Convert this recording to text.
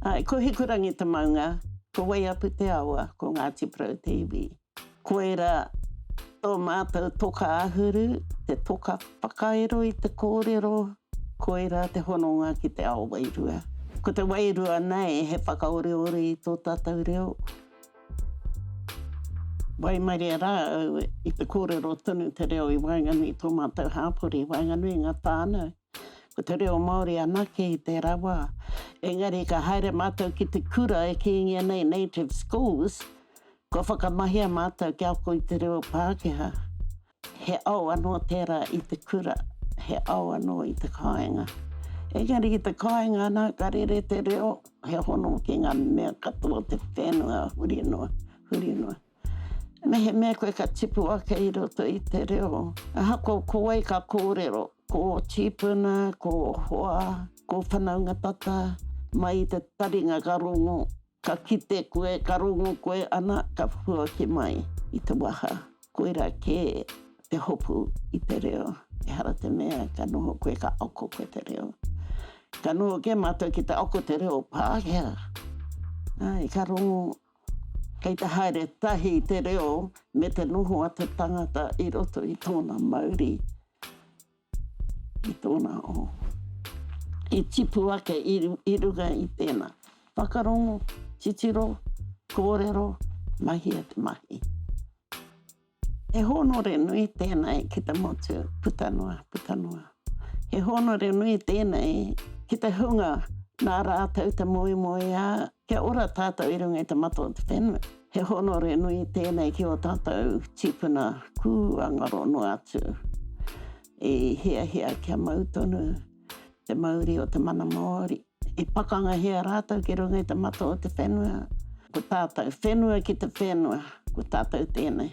Āe, ko Hikurangi te maunga, ko Waiapu te awa, ko Ngāti Porou te iwi. Koirā tō mātou toka āhuru, te toka whakairo i te kōrero, koirā te hononga ki te ao wairua. Ko te wairua nei he whakaoreore i tō tātou reo. Waimarie rā au i te kōrero tonu te reo i waenganui i tō mātou hāpori, i waenganui i ngā whānau. Ko te reo Māori anake i tērā wā. Engari ka haere mātou ki te kura e kīngia nei Native Schools, kua whakamahia mātou kia ako i te reo Pākehā. He ao anō tērā i te kura, he ao anō i te kāinga. Engari i te kāinga anā, ka rere te reo, he hono ki ngā mea katoa o te whenua huri noa, huri noa. Mehemea koe ka tipu ake i roto i te reo, ahakoa ko wai ka kōrero, ko ō tīpuna, ko ō hoa, ko ō whanaunga tata, mai i te taringa ka rongo, Ka kite koe, ka rongo koe, ana, ka puaki mai i te waha. Koirā kē te hopu i te reo. Ehara te mea, ka noho koe, ka ako koe te reo. Ka noho kē mātou ki te ako te reo Pākehā. Āe, ka rongo, kei te haere tahi te reo me te noho a te tangata i roto i tōna mauri. Ki tōna o. I tipu ake i runga i tēnā. Whakarongo, titiro, kōrero, mahia te mahi. He hōnore nui tēnei ki te motu, puta noa, puta noa. He hōnore nui tēnei ki te hunga nā rātou te moemoeā Kia ora tātou i runga i te matua o te whenua. He honore nui tēnei ki o tātou tīpuna kūangaro noa atu i hiahia kia mau tonu te mauri o te mana Māori. I pakangahia rātou ki runga i te matua o te whenua. Ko tātou, whenua ki te whenua, ko tātou tēnei.